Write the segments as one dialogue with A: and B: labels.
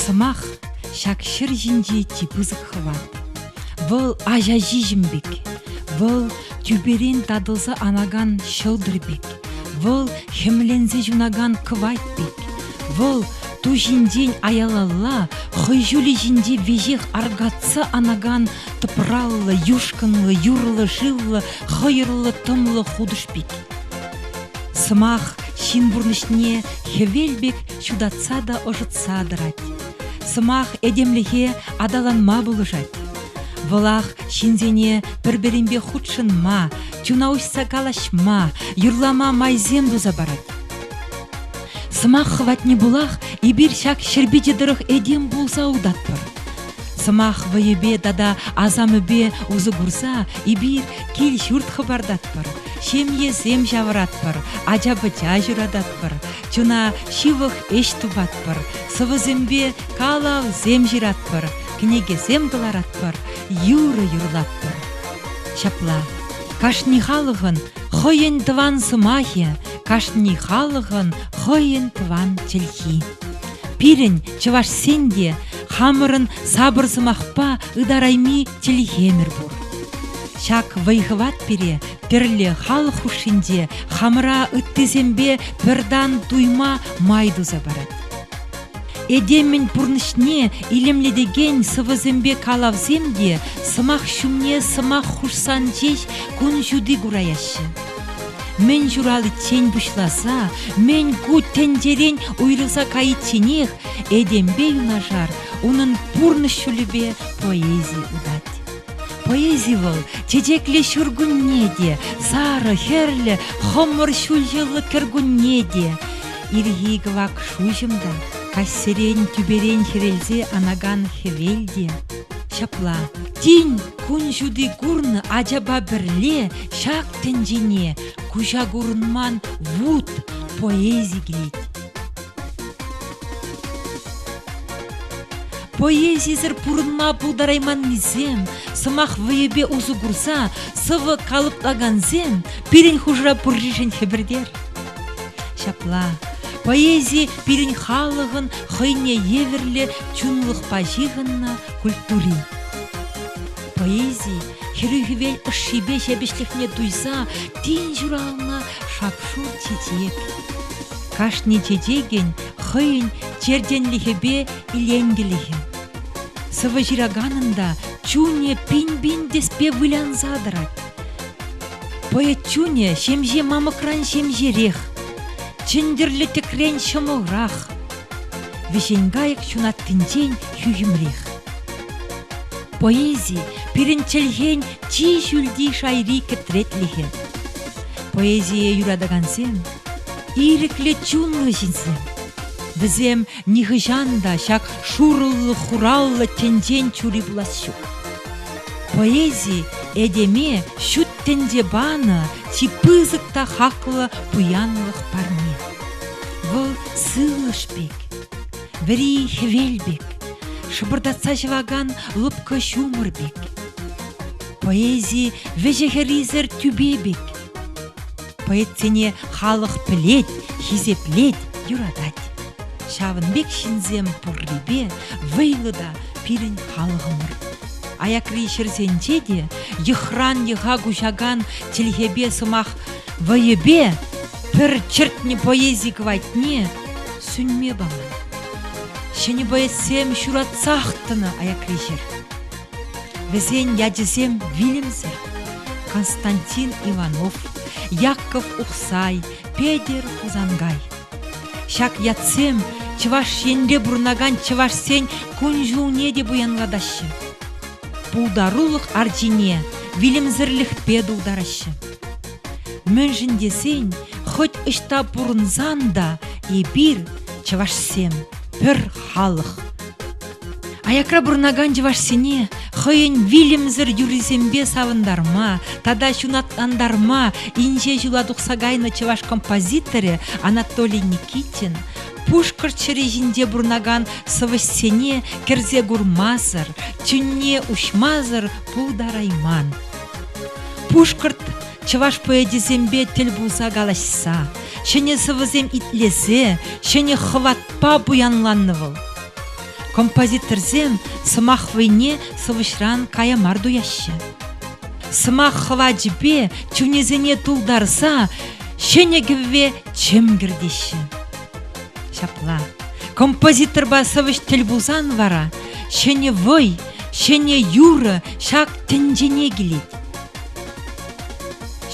A: Сӑмах ҫак ҫӗр ҫинче чи пысӑк хӑват. Вӑл аҫа ҫиҫӗм пек, вӑл тӳперен татӑлса анакан ҫӑлтӑр пек. Вӑл хӗмленсе ҫунакан кӑвайт пек. Вӑл ту ҫинчен аялалла, хӑй ҫулӗ ҫинче веҫех аркатса анакан тӑпраллӑ, юшкӑнлӑ, юрлӑ-шывлӑ, хӑйӑрлӑ-тӑмлӑ хутӑш пек. Сӑмах ҫын пурнӑҫне хӗвел пек ҫутатса та ӑшӑтса тӑрать. Сӑмах этемлӗхе аталанма пулӑшать. Вӑлах ҫынсене пӗр-пӗринпе хутшӑнма, Чуна уҫса калаҫма, юрлама майсем туса парать. Сӑмах хӑватне пулах эпир ҫак ҫӗр пичӗ тӑрӑх этем пулса утатпӑр. Сӑмах вӑйӗпе тата асамӗпе усӑ курса эпир кил-ҫурт хӑпартатпӑр, ҫемьесем ҫавӑратпӑр, ача-пӑча ҫурататпӑр, чуна ҫывӑх ӗҫ тупатпӑр, сӑвӑсемпе калавсем ҫыратпӑр, кӗнекесем кӑларатпӑр, юрӑ юрлатпӑр. Ҫапла, кашни халӑхӑн хӑйӗн тӑван сӑмахӗ, кашни халӑхӑн хӑйӗн тӑван чӗлхи. Пирӗн, чӑвашсен те хамӑрӑн сапӑр сӑмахпа ытарайми чӗлхемӗр пур. Ҫак вӑй-хӑват пире пӗрле халӑх хушшинче хамӑра ыттисемпе пӗр тан туйма май туса парать. Этемӗн пурнӑҫне илемлетекен сӑвӑсемпе калавсем те сӑмах ҫумне сӑмах хушсан ҫеҫ кун ҫути кураяҫҫӗ. Мӗн ҫураличчен пуҫласа мӗн ку тӗнчерен уйрӑлса кайичченех этемпе юнашар унӑн пурнӑҫ ҫулӗпе поэзи утать. Поэзи вӑл чечеклӗ ҫуркунне те, сарӑ, хӗрлӗ, хӑмӑр ҫулҫӑллӑ кӗркунне те. Ирхи кӑвак шуҫӑм та, каҫсерен тӳперен хӗрелсе анакан хӗвел те ҫапла. Тин кун ҫути курнӑ ачапа пӗрле ҫак тӗнчене куҫа курӑнман вут поэзи килет. Поэзисӗр пурӑнма пултарайманнисем, сӑмах вӑйӗпе усӑ курса сӑвӑ калӑплакансем пирӗн хушӑра пурришӗн хӗпӗртер. Ҫапла, поэзи пирӗн халӑхӑн хӑйне евӗрлӗ чунлӑхпа ҫыхӑннӑ культури. Поэзи хӗрӳ хӗвел ӑшшипе ҫепӗҫлӗхне туйса тин ҫуралнӑ шап-шур чечек. Кашни чечекӗн хӑйӗн чертенлӗхӗпе иленкӗлӗхӗ. Сӑвӑ ҫыраканӑн та чунӗ пин-пин тӗспе вылянса тӑрать. Пӑйӑ чунӗ ҫемҫе мамӑкран ҫемҫерех, чӗнтӗрлӗ тӗкрен ҫӑмӑлрах, вӗҫен кайӑк ҫунаттинчен хӳхӗмрех. Поэзи пирӗн чӗлхен чи ҫӳлти шайри кӗтретлӗхӗ. Поэзие юратакансем, ирӗклӗ чунлӑ ҫынсем. Вӗсем нихӑҫан та ҫак шурӑллӑ-хураллӑ тӗнчен чури пулас ҫук. Поэзи этеме ҫут тӗнче панӑ чи пысӑк та хаклӑ пуянлӑх парне. Вӑл сывлӑш пек, вӗри хӗвел пек, шӑпӑртатса ҫӑвакан лӑпкӑ ҫумӑр пек. Поэзи вӗҫӗ-хӗррисӗр тӳпе пек. Поэтсене халӑх пӗлет, хисеплет, юратать. Ҫавӑн пек ҫынсем пуррипе вӑйлӑ та пирӗн халӑхӑмӑр. Аякри ҫӗрсенче те йӑхран йӑха куҫакан чӗлхепе сӑмах вӑйӗпе пӗр чӗртнӗ поэзи кӑвайтне сӳнме паман. Ҫӗнӗ поэтсем ҫуратсах тӑнӑ аякри ҫӗр. Вӗсен ячӗсем вилӗмсӗр. Константин Иванов, Яков Ухсай, Петӗр Хусангай. Ҫак ятсем Чӑваш Енре пурӑнакан чӑвашсен кун-ҫулне те пуянлатаҫҫӗ. Пултарулӑх арчине вилӗмсӗрлӗхпе тултараҫҫӗ. Мӗншӗн тесен хӑть ӑҫта пурӑнсан та эпир, чӑвашсем, пӗр халӑх. Аякра пурӑнакан чӑвашсене хӑйӗн вилӗмсӗр юррисемпе савӑнтарма тата ҫунатлантарма инҫе ҫула тухса кайнӑ чӑваш композиторӗ Анатолий Никитин Пушкӑрт ҫӗрӗ ҫинче пурӑнакан сӑвӑҫсене кӗрсе курмасӑр, чунне уҫмасӑр пултарайман. Пушкӑрт чӑваш поэчӗсемпе тӗл пулса калаҫса, ҫӗнӗ сӑвӑсем итлесе, ҫӗнӗ хӑватпа пуянланнӑ вӑл. Композиторсем сӑмах вӑйне сӑвӑҫран кая мар туяҫҫӗ. Сӑмах хӑвачӗпе чунӗсене тултарса ҫӗнӗ кӗвве чӗм кӗртеҫҫӗ. Ҫапла, композиторпа сӑвӑҫ тӗл пулсан вара ҫӗнӗ вӑй, ҫӗнӗ юрӑ ҫак тӗнчене килет.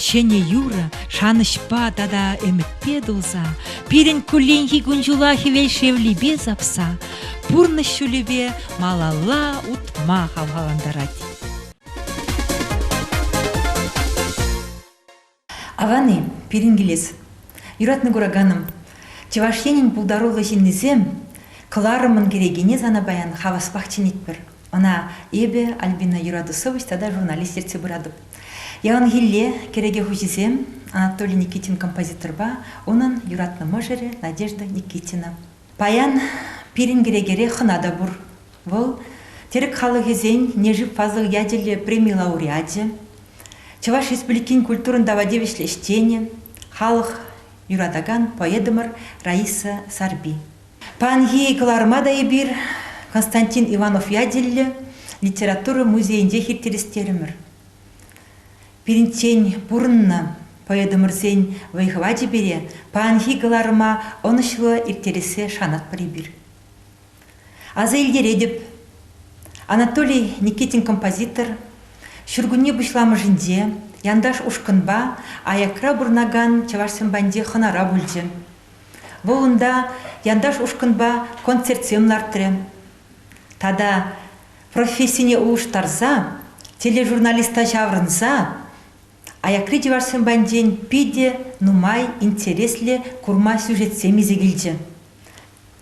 A: Ҫӗнӗ юрӑ шанӑҫпа тата ӗмӗтпе тулса, пирӗн кулленхи кун-ҫула хӗвел шевлипе сапса, пурнӑҫ ҫулӗпе малалла утма хавхалантарать. Аван-и пирӗн килес? Юратнӑ кураканӑм, Чӑваш Енӗн пултаруллӑ ҫыннисем кӑларӑмӑн кӗрекине сана паян хаваспах чӗнетпӗр. Ӑна эпӗ, Альбина Юратусович, тата журналист ертсе пыратӑп. Яланхилле кӗреке хуҫисем Анатолий Никитин композиторпа унӑн юратнӑ мӑшӑрӗ Надежда Никитина. Паян пирӗн кӗрекере хӑна та пур. Вӑл тӗрӗк халӑхӗсен Нежив фазлӑх ячӗллӗ преми лауреачӗ, Чӑваш Республикин культурӑн тава тивӗҫлӗ ӗҫченӗ, халӑх юратакан поэтӑмӑр Раиса Сарпи. Паянхи кӑларӑма та эпир Константин Иванов ячӗллӗ литература музейӗнчех ирттерестерӗмӗр. Пирӗнчен пурӑннӑ поэтӑмӑрсен вӑй-хӑвачӗ пире паянхи кӑларӑма ӑнӑҫлӑ ирттерессе шанатпӑр эпир. Аса илтеретӗп, Анатолий Никитин композитор ҫуркунне пуҫламӑшӗнче Янташ ушкӑнпа аякра пурӑнакан чӑвашсем патӗнче хӑнара пулчӗ. Вӑл унта янташ ушкӑнпа концертсем лартрӗ. Тата профессине улӑштарса, тележурналиста ҫаврӑнса аякри чӑвашсем патӗнчен питӗ нумай интереслӗ курма сюжетсем илсе килчӗ.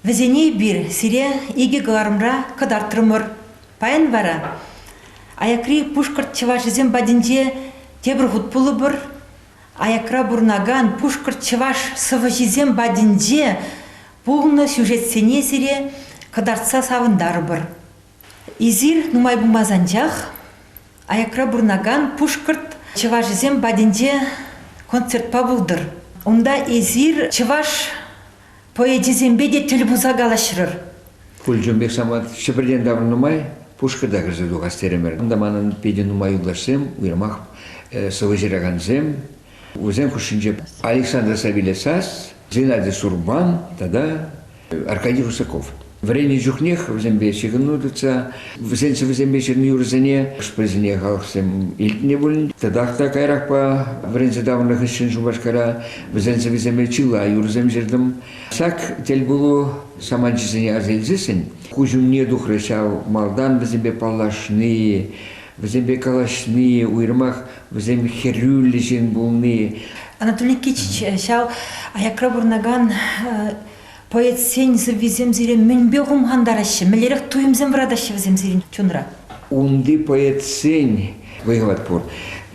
A: Вӗсене эпир сире икӗ кӑларӑмра кӑтартрӑмӑр. Паян вара аякри пушкӑрт чӑвашӗсем патӗнче тепӗр хут пулӑпӑр, Аякра пурӑнакан пушкӑрт чӑваш сӑвӑҫисем патӗнче пулнӑ сюжетсене сире кӑтартса савӑнтарӑпӑр. Эсир нумай пулмасть анчах аякра пурӑнакан пушкӑрт чӑвашӗсем патӗнче концертпа пултӑр. Унта эсир чӑваш Поэчӗсемпе те тӗл пулса калаҫрӑр. Пульчун пек самат Ҫӗпӗртен таврӑннӑ май пушкӑрта кӗрсе тухас терӗмӗр. Унта манӑн питӗ нумай юлташсем, уйрӑмах сӑвӑ ҫыракансем. Вӗсен хушшинче Александр Савелесас, Геннадий Сурбан тата Аркадий Русаков. Вӗреннӗ чухнех вӗсемпе ҫыхӑну тытса, вӗсен сӑвӑсемпе ҫырнӑ юрӑсене хӑш-пӗрисене халӑхсем илтнӗ пулин, татах та каярахпа вӗренсе таврӑннӑ хыҫҫӑн Шупашкара вӗсен сӑвӑсемпе чылай юрӑсем ҫыртӑм. Сак тӗлпулу саманчӗсене аса илсессӗн куҫ умне тухрӗ ҫав малтан вӗсемпе паллашни, вӗсемпе калаҫни, уйрӑмах вӗсем хӗрӳллӗ ҫын пулни. Анатолий Кич ҫав аякра пурӑнакан Поэтсен сӑввисем сире мӗнпе хумхантараҫҫӗ? Мӗнлерех туйӑмсем вӑратаҫҫӗ вӗсем сирӗн чунра? Унти поэтсен вӑйлать пур.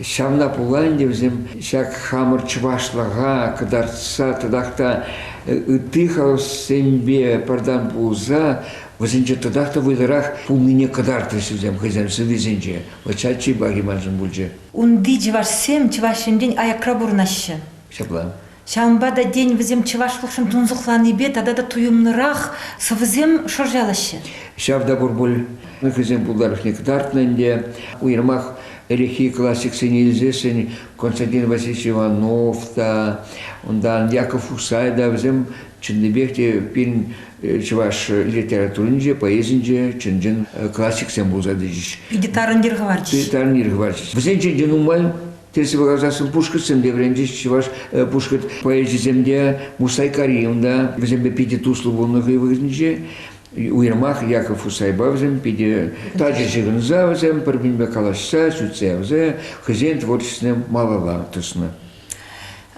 A: Ҫавна пула ӗнтӗ вӗсем ҫак хамӑр чӑвашлӑха кӑтартса тӑтах та ытти халӑхсемпе пӗртан пулса вӗсенче тӑтах та вӑйлӑрах пулнине кӑтартрӗҫ вӗсем хӑйсен сӑввисенче. Вот ҫак чи пахи маншӑн пулчӗ. Унти чӑвашсем Чӑваш Енрен аякра пурӑнаҫҫӗ. Ҫапла. Ҫавӑнпа та, тен, вӗсем чӑвашлӑхшӑн тунсӑхланипе тата та туйӑмлӑрах сӑвӑсем шӑрҫалаҫҫӗ. Ҫав та пур пуль. Хӑйсен пултарӑшне кӑтартнӑ ӗнтӗ. Уйрӑмах ӗлӗкхи классиксене илсессӗн Константин Васильевич Иванов та, унтан Яков Усай та вӗсем чӑннипех те пирӗн чӑваш литературинче, поэзинче чӑн-чӑн классиксем пулса тӑчӗҫ. Питӗ тарӑн йӗр хӑварчӗҫ. Питӗ тарӑн йӗр хӑварчӗҫ. Вӗсенчен те нумай Тӗрӗс каласан пушкӑртсем те вӗренчӗҫ, чӑваш пушкӑрт поэчӗсем те, Мусай Карим та вӗсемпе питӗ туслӑ пулнӑ хӑй вӑхӑтӗнче. Уйрӑмах Яков Усайпа вӗсем питӗ тачӑ ҫыхӑнса вӗсем пӗр-пӗринпе калаҫса, сӳтсе явса хӑйсен творчествине малалла тӑснӑ.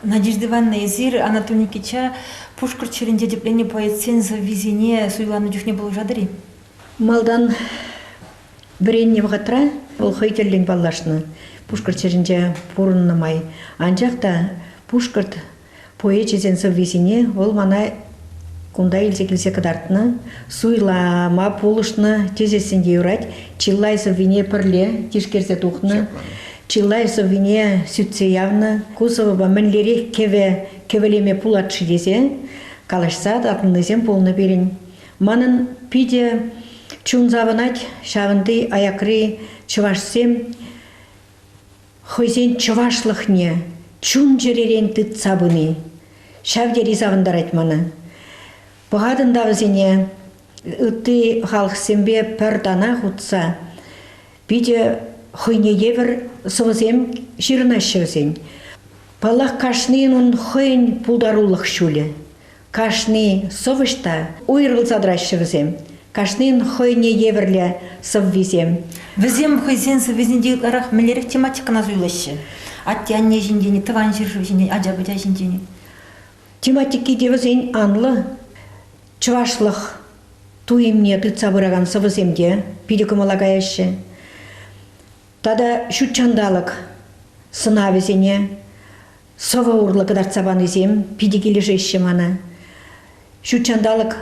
A: Надежда Ивановна, эсир Анатолий Никитича пушкӑрт ҫӗрӗнче тӗпленнӗ поэтсен сӑввисене суйланӑ чухне пулӑшатӑр-и? Малтан Вӗреннӗ вӑхӑтра вӑл хӑй тӗллӗн паллашнӑ Пушкӑрт ҫӗрӗнче пурӑннӑ май. Анчах та пушкӑрт поэчӗсен сӑввисене вӑл мана кунта илсе килсе кӑтартнӑ, суйлама пулӑшнӑ тесессӗн те юрать. Чылай сӑввине пӗрле тишкерсе тухнӑ, чылай сӑввине сӳтсе явнӑ. Ку сӑвӑпа мӗнлерех кӗвӗ кӗвӗлеме пулать-ши тесе калаҫса татӑлнисем пулнӑ пирӗн. Манӑн питӗ чун савӑнать ҫавӑнти аякри чӑвашсем хӑйсен чӑвашлӑхне чун-чӗререн тытса пыни ҫав тери савӑнтарать мана. Пӑхатӑн та вӗсене ытти халӑхсемпе пӗр танах утса питӗ хӑйне евӗр сӑвӑсем ҫырӑнаҫҫӗ вӗсен. Паллах, кашнийӗн ун хӑйӗн пултарулӑх ҫулӗ. Кашни сӑвӑҫ та уйрӑлса тӑраҫҫӗ вӗсем. Кашнин хӑйне евӗрлӗ сӑввисем. Вӗсем хӑйсен сӑввисенче ытларах мӗнлерех тематикӑна суйлаҫҫӗ? Атте-анне ҫинчен, тӑван ҫӗршыв ҫинчен, ача-пӑча ҫинчен. Тематики те вӗсен анлӑ. Чӑвашлӑх туйӑмне тытса пыракан сӑвӑсем те питӗ кӑмӑла каяҫҫӗ. Тата ҫут ҫанталӑк сӑнавӗсене сӑвӑ урлӑ кӑтартса панисем питӗ килӗшеҫҫӗ мана. Ҫут ҫанталӑк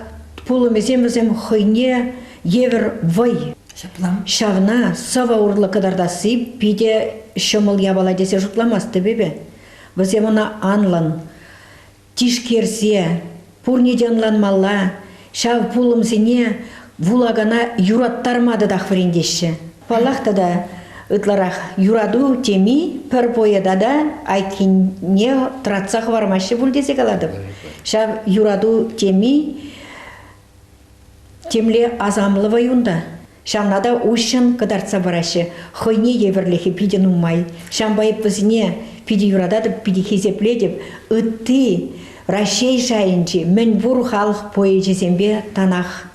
A: пулӑмӗсем вӗсем хӑйне евӗр вӑй. Ҫапла. Ҫавна сӑвӑ урлӑ кӑтартасси питӗ ҫӑмӑл япала тесе шутламастӑп эпӗ. Вӗсем ӑна анлӑн тишкерсе Пурне те ӑнланмалла, ҫав пулӑмсене вулакана юраттарма татах вӗрентеҫҫӗ. Паллах тата, ытларах юрату теми пӗр поэта та айккине тӑратса хӑвармаҫҫӗ пуль тесе калатӑп. Ҫав юрату теми Темле асамлӑ вӑй унта. Ҫавна та уҫҫӑн кӑтартса параҫҫӗ. Хӑйне евӗрлӗхӗ питӗ нумай. Ҫавӑнпа эп вӗсене питӗ юрататӑп, питӗ хисеплетӗп. Ытти Раҫҫей шайӗнчи мӗн пур халӑх поэчӗсемпе танах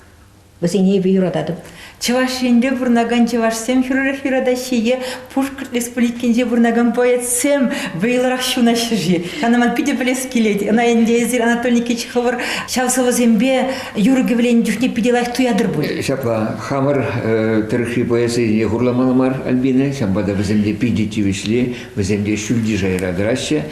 A: вӗсене эпӗ юрататӑп. Чӑваш Енре пурӑнакан чӑвашсем хӗрӳрех юратаҫҫӗ е Пушкӑрт Республикинче пурӑнакан поэтсем вӑйлӑрах ҫунаҫҫӗ-ши? Ӑна ман питӗ пӗлес килет. Ӑна ӗнтӗ эсир Анатолий Никитич хӑвӑр ҫав сӑвӑсемпе юрӑ кӗвленӗ чухне питӗ лайӑх туятӑр пуль. Э, ҫапла, хамӑр э, тӑрӑхри поэзине хурламалла мар Альбина, ҫавӑнпа та вӗсем те питӗ тивӗҫли, вӗсем те ҫӳлти шайра тӑраҫҫӗ.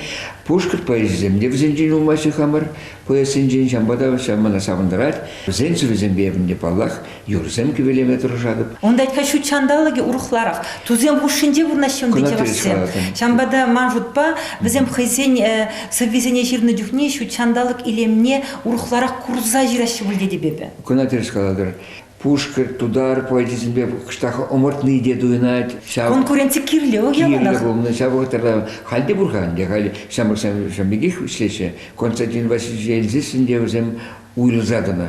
A: Пушкӑрт поэзисем те вӗсенчен юлмаҫҫӗ хамӑр поэзсенчен, ҫавӑнпа та ҫав мана савӑнтарать. Вӗсен сӑввисемпе эпӗ те паллах юрӑсем кӗвелеме тӑрӑшатӑп. Ун тетка ҫут ҫанталӑкӗ урӑхларах. Тусем хушшинче вырнаҫҫӗ ӗнтӗ чӑвашсем. Ҫавӑнпа та ман шутпа вӗсем хӑйсен э, сӑввисене ҫырнӑ чухне ҫут ҫанталӑк илемне урӑхларах курса ҫыраҫҫӗ пуль тетӗп эпӗ. Кӑна тӗрӗс калатӑр. Пушкӑрт, тутар поэчӗсемпе кӑштах ӑмӑртни те туйӑнать. Ҫав... Конкуренци кирлӗ о кирлӗ пулнӑ. Ҫав вӑхӑтра халь те пур-ха ӗнтӗ. Халь ҫамрӑксем ҫавӑн пекех вӗҫлеҫҫӗ. Константин Васильевич Ельзесин те вӗсем уйрӑлса тӑнӑ.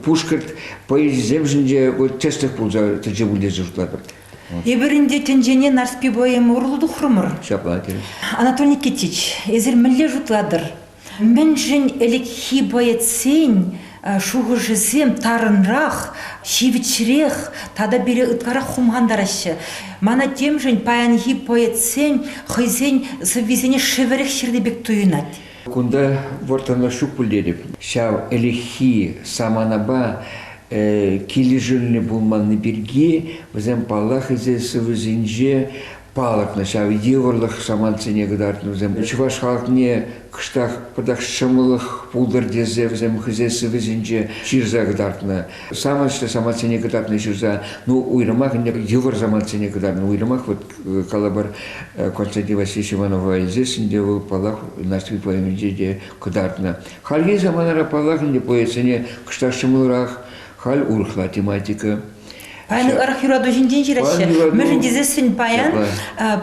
A: пушкӑрт поэчӗсемшӗнче тӗслӗх пулса тӑчӗ пуль тесе шутлатӑп. Эпир ӗнтӗ тӗнчене Нарспи поэма урлӑ тухрӑмӑр. Ҫапла терӗ. Анатолий Никитич, эсир мӗнле шутлатӑр? Мӗншӗн ӗлӗкхи поэтсен шухӑшӗсем тарӑнрах, ҫивӗчрех тата пире ытларах хумхантараҫҫӗ? Мана темшӗн паянхи поэтсен хӑйсен сӑввисене шӗвӗрех ҫырнӑ пек туйӑнать. Кунта вӑрттӑнлӑх ҫук пуль тетӗп. Ҫав ӗлӗкхи саманапа килӗшӳллӗ пулманни пирки вӗсем, паллах, ӗҫе сывӑсенче палӑртнӑ. Ҫав йывӑрлӑх самантсене кӑтартнӑ вӗсем. Чӑваш халӑхне кӑштах пӑтах ҫӑмӑллӑх пултӑр тесе вӗсем хӑйсен сывӑсенче ҫырса кӑтартнӑ. саманчлӗ самантсене кӑтартни ҫырса, ну, уйрӑмах ӗнтӗ йывӑр самантсене кӑтартни, уйрӑмах вот э, калӑпӑр э, Константин Васильевич Иванова здесь ӗнтӗ вӑл, паллах, Нарспи поэминче те кӑтартнӑ. Хальхи саманара, паллах, ӗнтӗ поэтсене кӑштах ҫӑмӑлрах, халь урӑхла тематика. Паян ырх юрату ҫинчен ҫыраҫҫӗ. Мӗншӗн тесессӗн паян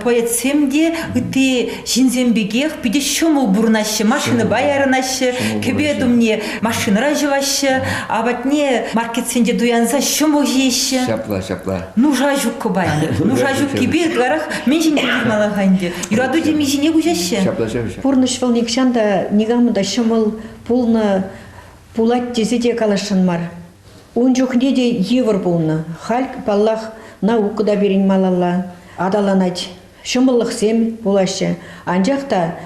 A: поэтсем те ытти ҫынсем пекех питӗ ҫӑмӑл пурӑнаҫҫӗ машинӑпа ярӑнаҫҫӗ кӗпет умне машинӑра ҫӑваҫҫӗ апатне маркетсенче туянса ҫӑмӑл ҫиеҫҫӗ ҫапла ҫапла нуша ҫуккӑ пайлӑ нуша ҫуккипе ытларах мӗн ҫине ҫыхмалла-ха ӗнтӗ юрату теми ҫине куҫаҫҫӗ ҫапла ҫапаҫҫӗ пурнӑҫ вӑл нихҫан та никамӑн та ҫӑмӑл пулнӑ пулать тесе те каласшӑн мар Ун чухне те йывӑр пулнӑ. Халь, паллах, наука та пирӗн малалла аталанать, ҫӑмӑллӑхсем пулаҫҫӗ. Анчах та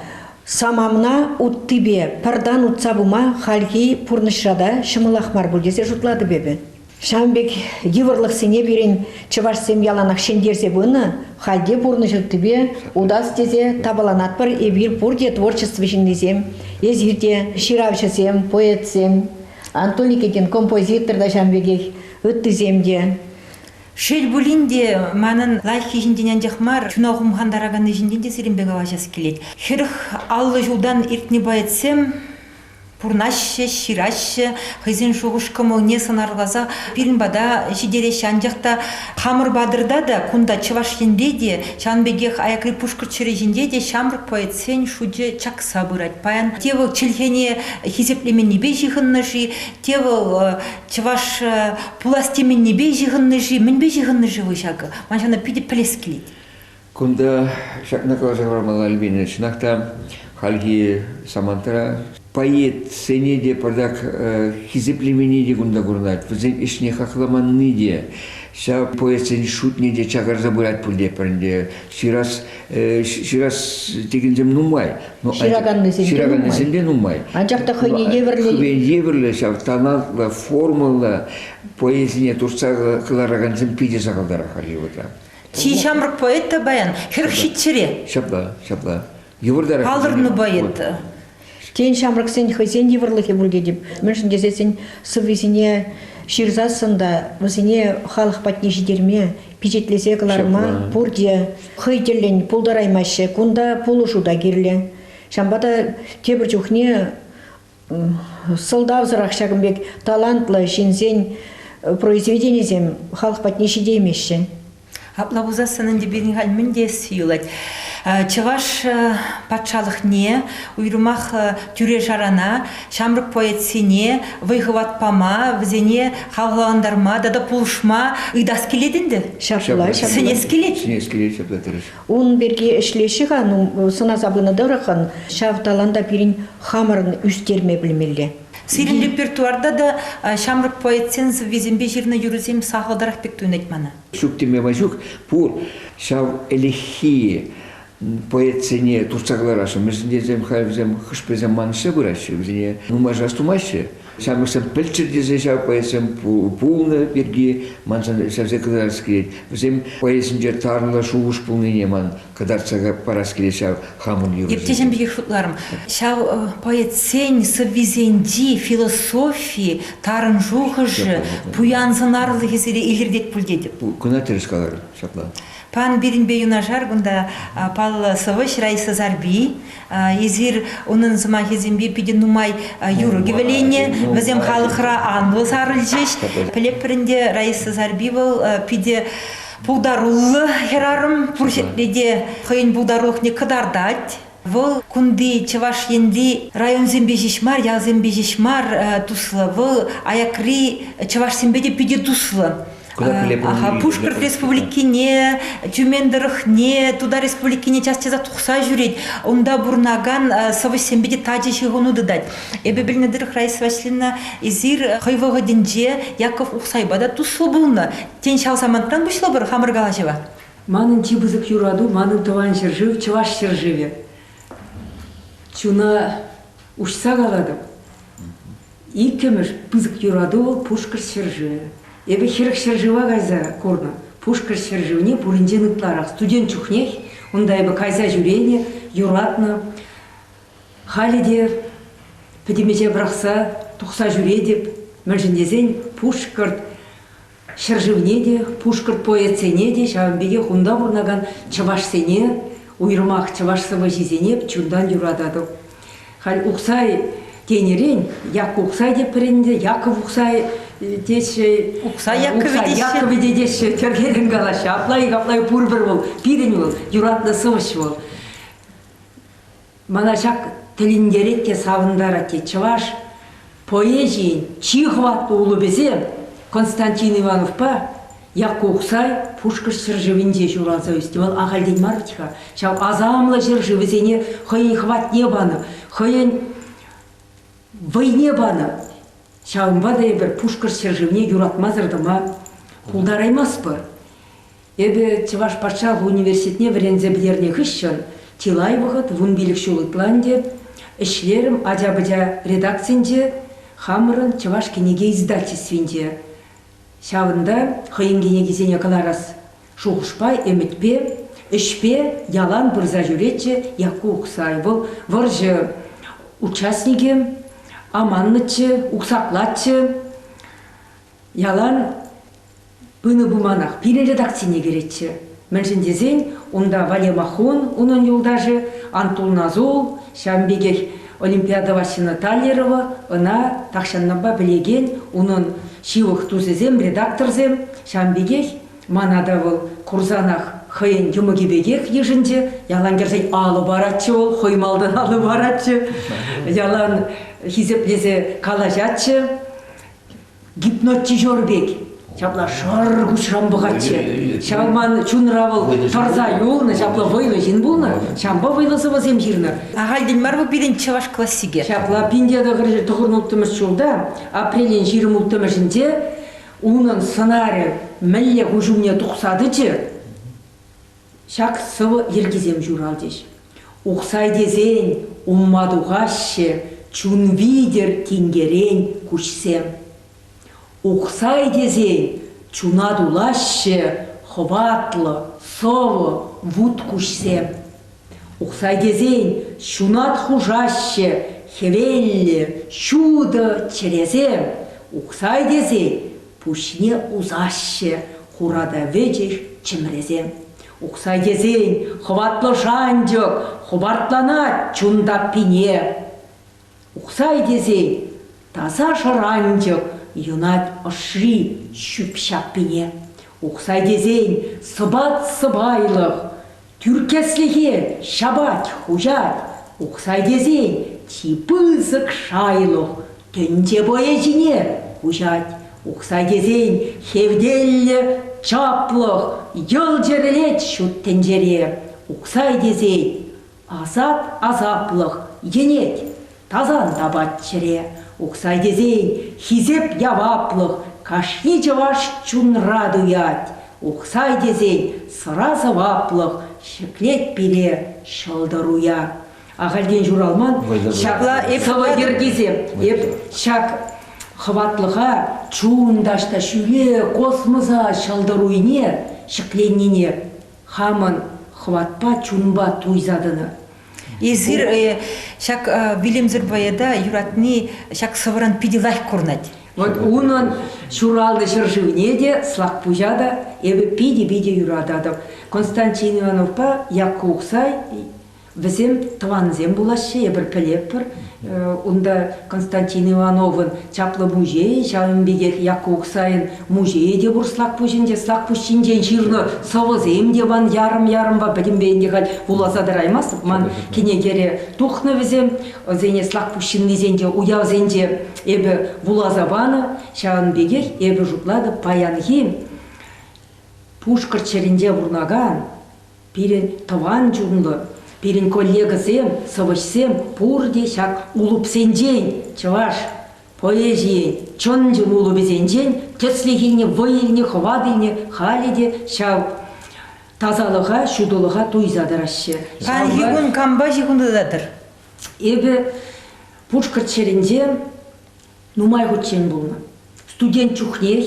A: самана уттипе пӗртан утса пыма хальхи пурнӑҫра та ҫӑмӑлах мар пуль тесе шутлатӑп эпӗ. Ҫавӑн пек йывӑрлӑхсене пирӗн чӑвашсем яланах ҫӗнтерсе пынӑ. Халь те пурнӑҫ уттипе утас тесе тапаланатпӑр. Эпир пурте творчество ҫыннисем. Эсир те ҫыравҫӑсем, поэтсем. Антоний Кекен композитор та ҫав пекех, ыттисем те. Шел пулин те, манӑн лайӑххи ҫинчен анчах мар, чуна хумхантараканни ҫинчен те сирӗнпе калаҫас килет. Хӗрӗх аллӑ ҫултан иртнӗ поэтсем пурнаҫҫӗ, ҫыраҫҫӗ, хӑйсен шухӑш-кӑмӑлне сӑнарласа пирӗн пата ҫитереҫҫӗ. Анчах та хамӑр патӑрта та, кунта Чӑваш Енре те, ҫавӑн пекех аякри Пушкӑрт ҫӗрӗ ҫинче те ҫамрӑк поэтсен шучӗ чакса пӑхса пырать. Паян те вӑл чӗлхене хисеплеменнипе ҫыхӑннӑ-ши, те вӑл чӑваш пулас теменнипе ҫыхӑннӑ-ши, мӗнпе ҫыхӑннӑ-ши вӑл ҫакӑ? Ман ҫавна питӗ пӗлес килет. Кунта ҫакна каласа хӑвармалла, Альбина. Чӑнах та, хальхи самантра поэтсене те патак хисеплемени те кунта курӑнать. Вӗсен ӗҫне хакламанни те, ҫав поэтсен шутне те чакарса пырать пуль те пӗр ӗнтӗ. Ҫырас ҫырас текенсем нумай. ҫыраканнисем, ҫыраканнисем те нумай. Анчах та хӑйне евӗрлӗ. Хӑйне евӗрлӗ ҫав талантлӑ, формӑллӑ поэзине туртса кӑларакансем питӗ сахалтарах Hollywoodра. Чи ҫамрӑк поэт та паян хӗрӗх хитчӗре. Ҫапла, ҫапла. Йывӑртарах. Палӑрнӑ поэт. Тен, ҫамрӑксен хӑйсен йывӑрлӑхӗ пур тетӗп, мӗншӗн тесен сӑввисене ҫырсассӑн та вӗсене халӑх патне ҫитерме, пичетлесе кӑларма пурте хӑй тӗллӗн пултараймаҫҫӗ. Кунта пулӑшу та кирлӗ. Ҫавӑнпа та тепӗр чухне сӑлтавсӑрах ҫакӑн пек талантлӑ ҫынсен произведенисем халӑх патне ҫитеймеҫҫӗ. Апла пулсассӑн ӗнтӗ пирӗн халь мӗн теесси юлать. Чӑваш патшалӑхне, уйрӑмах тӳре-шарана, ҫамрӑк поэтсене вӑй-хӑват пама, вӗсене хавхалантарма тата пулӑшма ыйтас килет ӗнтӗ. Ҫапла, ҫапла. Сӗнес килет. Сӗнес килет, ҫапла терӗҫ. Ун пирки ӗҫлеҫҫӗ-ха, ну, сӑнаса пынӑ тӑрӑххӑн, ҫав таланта пирӗн хамӑрӑн ӳстерме пӗлмелле. Сирӗн репертуарта та ҫамрӑк поэтсен сӑввисемпе ҫырнӑ юрӑсем сахалтарах пек туйӑнать мана. Ҫук теме май ҫук, пур ҫав ӗлӗкхи поэтсене туртса кӑларасшӑн. Мӗншӗн тесен халь вӗсем хӑш-пӗрисем мансӑрса пыраҫҫӗ, вӗсене нумайшар тумаҫҫӗ. Ҫамрӑксем пӗлччӗр тесе ҫав поэтсем пулнӑ пирки маншӑн ҫавсем кӑтартас килет. Вӗсем поэзинче тарлӑ шухӑш пулнине ман кӑтартса парас килет ҫав хамӑн юрӑсене. Иртнӗ пекех шутларӑм. Ҫав поэтсен сӑввисенчи философи, тарӑн шухӑшӗ, пуян сӑнарлӑхӗ сире илӗртет пуль тетӗп. Кӑна тӗрӗс каларӑн ҫапла. Пан пирӗнпе юнашар кунта паллӑ сӑвӑҫ Раиса Сарпи, Эсир унӑн сӑмахӗсемпе питӗ нумай юрӑ кӗвӗленнӗ. Вӗсем халӑхра анлӑ сарӑлчӗҫ. Пӗлеппӗрин те Раиса Зарби вӑл питӗ пултаруллӑ хӗрарӑм. Пур ҫӗрте те хӑйӗн пултарулӑхне кӑтартать. Вӑл кунти Чӑваш Енри районсемпе ҫеҫ мар, ялсемпе ҫеҫ мар туслӑ. Вӑл аякри чӑвашсемпе те питӗ туслӑ. Ага, Пушкӑрт Республикине, Тюмень тӑрӑхне, Тутар Республикине час-часах тухса ҫӳрет. Унта пурӑнакан сӑвӑҫсемпе те тачӑ ҫыхӑну тытать. Эпӗ пӗлнӗ тӑрӑх, Раиса Васильевна, эсир хӑй вӑхӑтӗнче Яков Ухсайпа та туслӑ пулнӑ. Тен, ҫав самантран пуҫлӑпӑр хамӑр калаҫӑва? Манӑн чи пысӑк юрату, манӑн тӑван ҫӗршыв, чӑваш ҫӗршывӗ. Чуна уҫса калатӑп, Иккӗмӗш пысӑк юрату вӑл Пушкӑрт ҫӗршывӗ. Эпӗ хӗрӗх ҫӗршыва кайса курнӑ. Пушкӑрт ҫӗршывне пуринчен ытларах студент чухнех унта эпӗ кайса ҫӳренӗ, юратнӑ. Халӗ те пӗтӗмӗҫе пӑрахса тухса ҫӳретӗп. Мӗншӗн тесен Пушкӑрт Ҫӗршывне те, пушкӑрт поэтсене те, ҫавӑн пекех унта пурӑнакан чӑвашсене, уйрӑмах чӑваш сӑвӑҫисене чунтан юрататӑп. Халь Ухсай тенӗрен, Якку Ухсай те пӗрӗннӗ, Яков Ухсай теҫҫӗ. Ухсай Якове теҫҫӗ. Якове те теҫҫӗ. Тӗркерен калаҫҫӗ. Апла-и, капла-и пурпӗр вӑл. Пирӗн вӑл, юратнӑ сӑвӑҫ вӑл. Мана ҫак тӗлӗнтерет те савӑнтарать, те чӑваш поэзийӗн чи хӑватлӑ улӑпӗсем Константин Ивановпа Якку Ухсай Пушкӑрт ҫӗршывӗнче ҫуралса ӳснӗ. Вӑл ахальтен мар вӗт-ха ҫав асамлӑ ҫӗршывӗсене хӑйӗн хӑватне панӑ, хӑйӗн вӑйне панӑ. Ҫавӑнпа та эпир Пушкӑрт ҫӗршывне юратмасӑр тӑма пултараймастпӑр. Эпӗ Чӑваш патшалӑх университетне вӗренсе пӗтернӗ хыҫҫӑн чылай вӑхӑт вунпилӗк ҫул ытла ӗнтӗ ӗҫлерӗм ача-пӑча редакцинче, хамӑрӑн Чӑваш кӗнеке издательствинче. Ҫавӑнта хӑйӗн кӗнекисене кӑларас шухӑшпа, ӗмӗтпе, ӗҫпе ялан пырса ҫӳретчӗ Якку Ухсай. Вӑл вӑрҫӑ участникӗ, аманнӑччӗ, уксаклатчӗ. Ялан пынӑ пулманах пирӗн редакцине кӗретчӗ. Мӗншӗн тесен унта Валя Махун, унӑн юлташӗ Антул Назул, ҫавӑн пекех Олимпиада Ваҫҫина Таллерова, ӑна тахҫанлӑхпа пӗлекен унӑн ҫывӑх тусӗсем, редакторсем, ҫавӑн пекех мана та вӑл курсанах хӑйӗн йӑмӑкӗ пекех йышӑнчӗ. Ялан кӗрсен алӑ паратчӗ вӑл, хӑй малтан алӑ паратчӗ, ялан хисеплесе калаҫатчӗ. гипнотизер пек ҫапла шӑр куҫран пӑхатчӗ. Ҫав ман чунра вӑл тӑрса юлнӑ, ҫапла вӑйлӑ ҫын пулнӑ. Ҫавӑнпа вӑйлӑ сӑвӑсем ҫырнӑ. Ахальтен мар вӑл пирӗн чӑваш классикӗ. Ҫапла пинте тӑхӑрҫӗр тӑхӑрӑн улттӑмӗш ҫулта, апрелӗн ҫирӗм улттӑмӗшӗнче, унӑн сӑнарӗ мӗнле куҫ умне тухса тӑчӗ? Ҫак сӑвӑ йӗркисем ҫуралчӗҫ. Ухсай тесен умма тухаҫҫӗ чун витӗр тинкерен куҫсем. Ухсай тесен чуна тулаҫҫӗ хӑватлӑ сӑвӑ вут куҫсем. Ухсай тесен ҫунат хушаҫҫӗ хӗвеллӗ ҫутӑ чӗресем. Ухсай тесен Пуҫне усаҫҫӗ, хура та вӗчӗх чӗмресем. Ухсай тесен хӑватлӑ шанчӑк хӑпартланать чун таппине. Ухсай тесен таса шӑранчӑк юнать ӑшри ҫӳп-ҫаппине. Ухсай тесен сӑпат-сӑпайлӑх Тӳркеслӗхе ҫапать хуҫать, Ухсай тесен чи пысӑк шайлӑх тӗнче вӑйӗ ҫине куҫать. Ухсай тесен хевтеллӗ, чаплӑх, йӑл чӗрӗлет ҫут тӗнчере. Ухсай тесен асап-асаплӑх енет. Тасан тапать чӗре, Ухсай тесен, хисеп яваплӑх кашни чӑваш чунра туять. Ухсай тесен, сӑра сӑваплӑх ҫӗклет пире ҫӑлтӑруя. Ахальтен ҫуралман ҫакла эп сӑвӑ йӗркисем. Эп ҫак хӑватлӑха чун таҫта ҫӳре космоса ҫӑлтӑруйне ҫӗкленнине хамӑн хӑватпа, чунпа туйса тӑнӑ. Эсир э, ҫак э, вилӗмсӗр поэта юратни ҫак сӑвӑран питӗ лайӑх курӑнать. Вот унӑн ҫуралнӑ ҫӗршывне те, Слакпуҫа та эпӗ питӗ-питӗ юрататӑп. Константин Ивановпа Якку Ухсай Вӗсем тӑвансем пулаҫҫӗ, эпир пӗлетпӗр. Унта Константин Ивановӑн чаплӑ музейӗ, ҫавӑн пекех Якку Ухсайӑн музейӗ те пур Слакпуҫӗнче. Слакпуҫ ҫинчен ҫырнӑ сӑвӑсем те ман ярӑм-ярӑмпа пӗтӗмпе ӗнтӗ халь вуласа тӑраймастӑп. Ман кӗнекере тухнӑ вӗсем. Вӗсене Слакпуҫ ҫыннисенче уявсенче эпӗ вуласа панӑ. Ҫавӑн пекех эпӗ шутлатӑп паянхи Пушкӑрт ҫӗрӗнче пурӑнакан Пирӗн тӑван чунлӑ, пирӗн коллегӑсем, сӑвӑҫсем пурте ҫак улупсенчен, чӑваш поэзийӗн чӑн-чӑн улупӗсенчен тӗслӗх илнӗ, вӑй илнӗ, хӑват илнӗ, халӗ те ҫав тасалӑха, ҫутӑлӑха туйса тӑраҫҫӗ. Хальхи кун кампа ҫыхӑнтататӑр? Эпӗ Пушкӑрт ҫӗрӗнче нумай хутчен пулнӑ студент чухнех.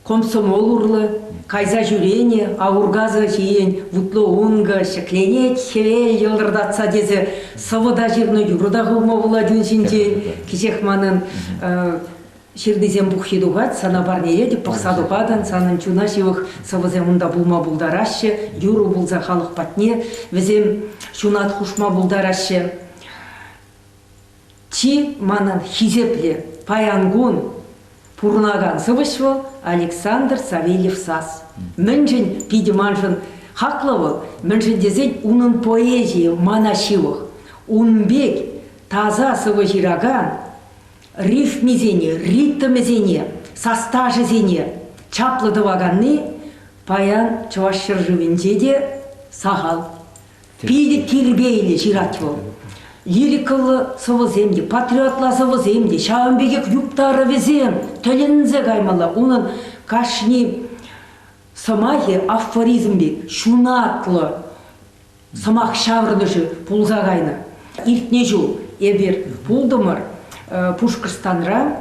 A: Комсомол урлӑ кайса ҫӳренӗ Аургазӑ ҫийӗн вутлӑ ункӑ ҫӗкленет, хӗвел йӑлтӑртатса тесе сӑвӑта ҫырнӑ юрӑ та хывма пулать ун ҫинчен. Кӗҫех манӑн ҫырнисем пуххи тухать, сана парнеле те пӑхса тупатӑн, санӑн чуна ҫывӑх сӑвӑсем унта пулма пултараҫҫӗ, юрӑ пулса халӑх патне вӗсем ҫунат хушма пултараҫҫӗ. Чи манӑн хисеплӗ паян кун пурӑнакан сӑвӑҫ вӑл, Александр Савельев-Сас. Мӗншӗн питӗ маншӑн хаклӑ вӑл, мӗншӗн тесен унӑн поэзийӗ мана ҫывӑх. Ун пек таса сӑвӑ ҫыракан рифмисене, ритмӗсене, састашӗсене чаплӑ тӑваканни паян Чӑваш ҫӗршывӗнче те сахал. Питӗ тирпейлӗ ҫырать вӑл. Лирикӑллӑ сӑвӑсем те, патриотла сӑвӑсем те, ҫавӑн пекех юптарӑвӗсем тӗлӗнсе каймалла. Унӑн кашни сӑмахӗ афоризм пек ҫунатлӑ сӑмах ҫаврӑнӑшӗ пулса кайнӑ. Иртнӗ ҫул эпир пултӑмӑр Пушкӑртстанра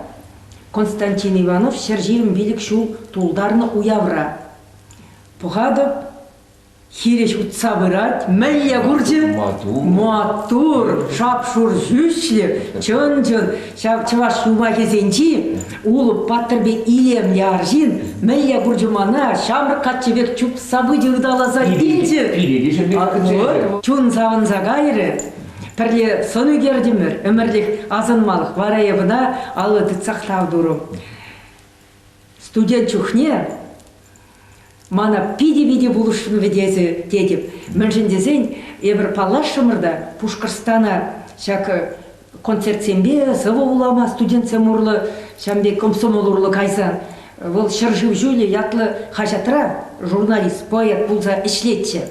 A: Константин Иванов ҫӗр ҫирӗм пилӗк ҫул тултарнӑ уявра. Пӑхатӑп, хирӗҫ утса пырать. Мӗнле курчӗ? Маттур. Маттур, шап-шур ҫӳҫлӗ, чӑн-чӑн. Ҫав чӑваш юмахӗсенчи Улӑп паттӑрпе илемлӗ арҫын мӗнле курчӗ мана ҫамрӑк каччӑ пек чупса пычӗ ыталаса илчӗ. Пире те ҫемье Чун савӑнса кайрӗ. Пӗрле сӑн ӳкертӗмӗр, ӗмӗрлӗх асӑнмалӑх вара эпӗ та алла тытсах тав турӑм. Студент чухне мана питӗ-питӗ пулӑшрӗ тесе тетӗп. Мӗншӗн тесен эпир паллашрӑмӑр та Пушкӑртстана ҫак концертсемпе сӑвӑ вулама студентсем урлӑ ҫам пек комсомол урлӑ кайсан вӑл ҫӗршыв ҫулӗ ятлӑ хаҫатра журналист, поэт пулса ӗҫлетчӗ.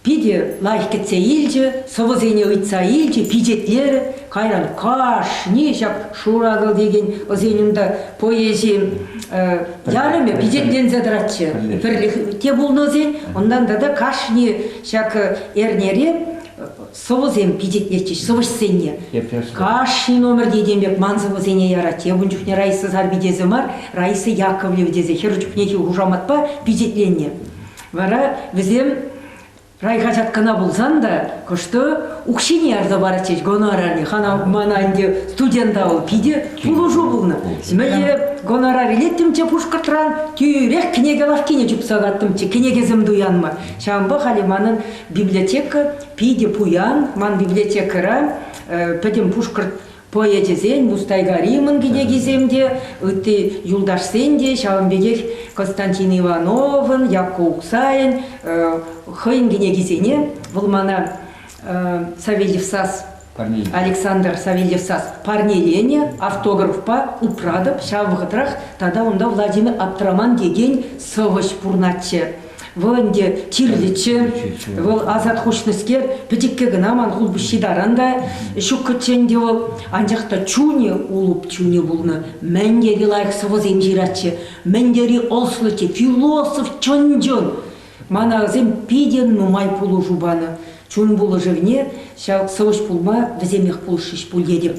A: Питӗ лайӑх кӗтсе илчӗ, сӑвӑсене ыйтса илчӗ, пичетлерӗ. Кайран кашни ҫак шуракӑл текен ӑсен унта поэзи ярӑмӗ пичетленсе тӑратчӗ. Пӗрлӗх те пулнӑ ӑсен, унтан тата кашни ҫак эрнере сӑвӑсем пичетлетчӗҫ сӑвӑҫсене. Кашни номер текен пек ман сӑвӑсене яратчӗ. Эп ун чухне Раиса Сарпи тесе мар, Раиса Яковлева тесе хӗр чухнехи хушаматпа пичетленнӗ. Вара вӗсем райхаҫат кӑна пулсан та кӑштӑ укҫине ярса паратчӗҫ гонорарине. Хана мана ӗнтӗ студента вӑл питӗ пулӑшу пулнӑ. Мӗне гонорар илеттӗмччӗ Пушкӑртран, тӳрех кӗнеке лавккине чупса каттӑмччӗ, кӗнекесем туянма. Ҫавӑнпа халӗ манӑн библиотека питӗ пуян. Ман библиотекӑра пӗтӗм Пушкӑрт Поэчӗсен Мустайгари мӑн кӗтекисем те, ытти юлташсен те ҫавӑн пекех Константин Ивановӑн, Якку Уксайӗн хӑйӗн кӗнекисене вӑл мана Савельев сас Александр Савельев сас парнеленӗ автографпа упратӑп. Ҫав вӑхӑтрах тата унта Владимир Аптраман текен сӑвӑҫ пурӑнатчӗ. Вӑл ӗнтӗ кирлӗччӗ, вӑл асат хушнӑскер, пӗчӗккӗ кӑна ман хулпуҫҫи таран та ҫуккӑччӗ ӗнтӗ вӑл, анчах та чунӗ, улӑп чунӗ пулнӑ. Мӗн тери лайӑх сӑвӑсем ҫыратчӗ, мӗн тери ӑслӑ те философ чӑн-чӑн. Мана вӗсем питӗ нумай пулӑшу панӑ. Чун пулӑшӑвне ҫав сӑвӑҫ пулма вӗсемех пулӑшрӗҫ пуль тетӗп.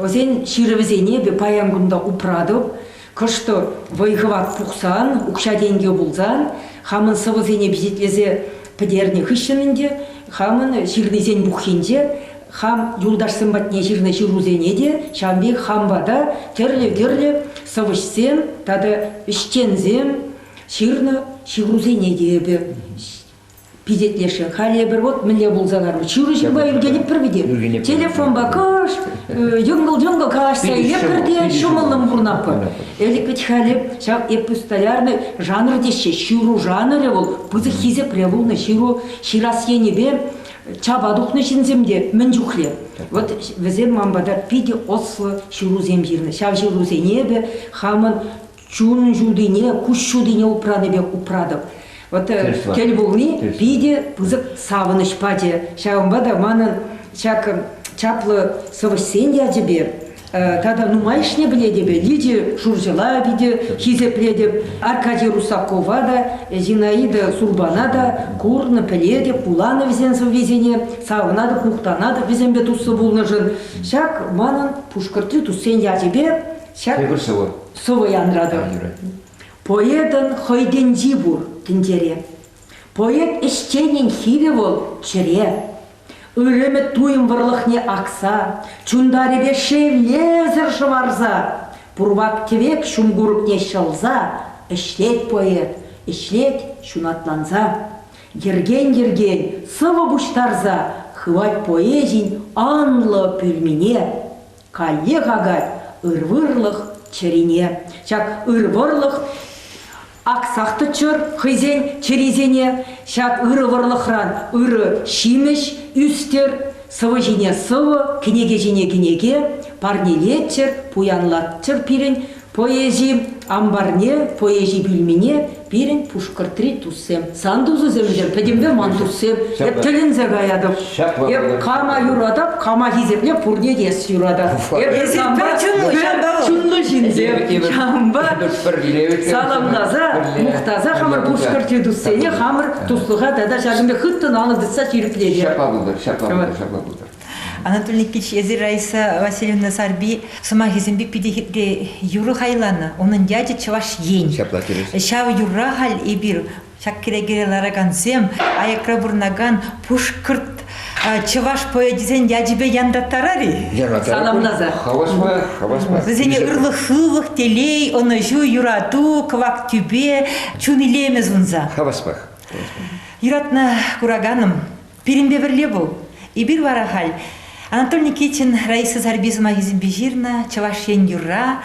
A: Вӗсен ҫырӑвӗсене эпӗ паян кун та упратӑп. Кӑштӑр вӑй-хӑват пухсан, укҫа-тенкӗ пулсан, хамӑн сӑвӑсене пичетлесе пӗтернӗ хыҫҫӑн ӗнтӗ хамӑн ҫырнисен пуххинче хам юлташсем патне ҫырнӑ ҫырусене те ҫавӑн пек хам пата тӗрлӗ-тӗрлӗ сӑвӑҫсем тата ӗҫченсем ҫырнӑ ҫырусене те эпӗ пичетлешрӗ. Халь эпир вот мӗнле пулса ларнӑ. Чуру ҫырма ӳркенӗпӗр вӗт. Телефонпа кӑш, йӑнкӑл-йӑнкӑл калаҫса илеппӗр те ҫӑмӑллӑн пурӑнатпӑр. Элӗк вӗт халӗ ҫав эппус столярный жанр теҫҫӗ. Ҫыру жанрӗ вӑл пысӑк хисепре пулнӑ. Ҫыру ҫырас енӗпе чапа тухнӑ ҫынсем те мӗн чухлӗ. Вот вӗсем ман пата питӗ ӑслӑ ҫырусем ҫырнӑ. Ҫав ҫырусене эпӗ хамӑн чун ҫутине, куҫ ҫутине упранӑ пек упратӑп. Вот э, тӗл пулни питӗ пысӑк савӑнӑҫ пачӗ. Ҫавӑнпа та манӑн ҫак чаплӑ сӑвӑҫсен ячӗпе э, тата нумайӑшне пӗлетӗпӗр. Лидия Шурҫӑла питӗ хисеплетӗп, Аркадий Русакова та, Зинаида Сурбана та курнӑ, пӗлетӗп, вуланӑ вӗсен сӑввисене, савӑнатӑп, мухтанатӑп вӗсемпе туслӑ пулнӑшӑн. Ҫак манӑн Пушкӑртри туссен ячӗпе Ҫак Эпир сӑвӑ. сӑвӑ янратӑр. Поэтӑн хӑй тӗнчи пур тӗнчере. Поэт ӗҫченӗн хирӗ вӑл чӗре. Ырӑмӗ туйӑм вӑрлӑхне акса, чунтарӗпе шевлесӗр шӑварса, пурвак-тӗвек ҫум курӑкне ҫӑлса ӗҫлет поэт, ӗҫлет ҫунатланса. Йӗркен-йӗркен сӑвӑ пуҫтарса хывать поэзин анлӑ пӳлмине. Каллех акать ыр вӑрлӑх чӗрине. Ҫак ыр вӑрлӑх аксах тӑччӑр хӑйсен чӗрисене. Ҫак ырӑ вӑрлӑхран ырӑ ҫимӗҫ ӳстер. Сӑвӑ ҫине сӑвӑ, кӗнеке ҫине кӗнеке парнелеччӗр, пуянлатчӑр пирӗн Поэзи амбарне, поэзи пӳльмине пирӗн Пушкӑртри туссем, сан тусӗсемшӗн пӗтӗмпе ман туссем, эп тӗлӗнсе каятӑп. Эп кама юратап, кама хисепле пурне те эс юратат. Эп санпа чунлӑ ҫынсем, ҫавӑнпа саламласа, мухтаса хамӑр Пушкӑртри туссене хамӑр туслӑха тата ҫакӑн пек хыттӑн алӑ тытса ҫирӗплетер. Ҫапла пултӑр, ҫапла пултӑр, ҫапла пултӑр. Анатолий Никитич, эсир Раиса Васильевна Сарби сӑмахӗсемпе питӗ юрӑ хайланӑ. Унӑн ячӗ Чӑваш Ен. Ҫапла терӗҫ. Ҫав юрра халь эпир ҫак кӗрекере ларакансем аякра пурӑнакан пушкӑрт чӑваш поэчӗсен ячӗпе янраттарар-и? Саламласа. Хаваспа, хаваспа. Вӗсене ырлӑх-хывлӑх, телей, ӑнӑҫу, юрату, кӑвак тӳпе, чун илемӗ сунса. Хаваспах. Юратнӑ кураканӑм, Пирӗнпе пӗрле вӑл. Эпир вара халь Анатолий Никитин Раиса Зарби сӑмахӗсемпе ҫырнӑ Чӑваш Ен юрра.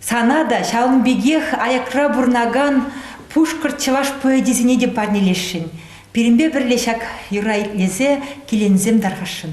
A: Сана та ҫавӑн пекех аякра пурӑнакан пушкӑрт чӑваш поэчӗсене те парнелесшӗн. Пирӗнпе пӗрле ҫак юрра итлесе киленсем тархасшӑн.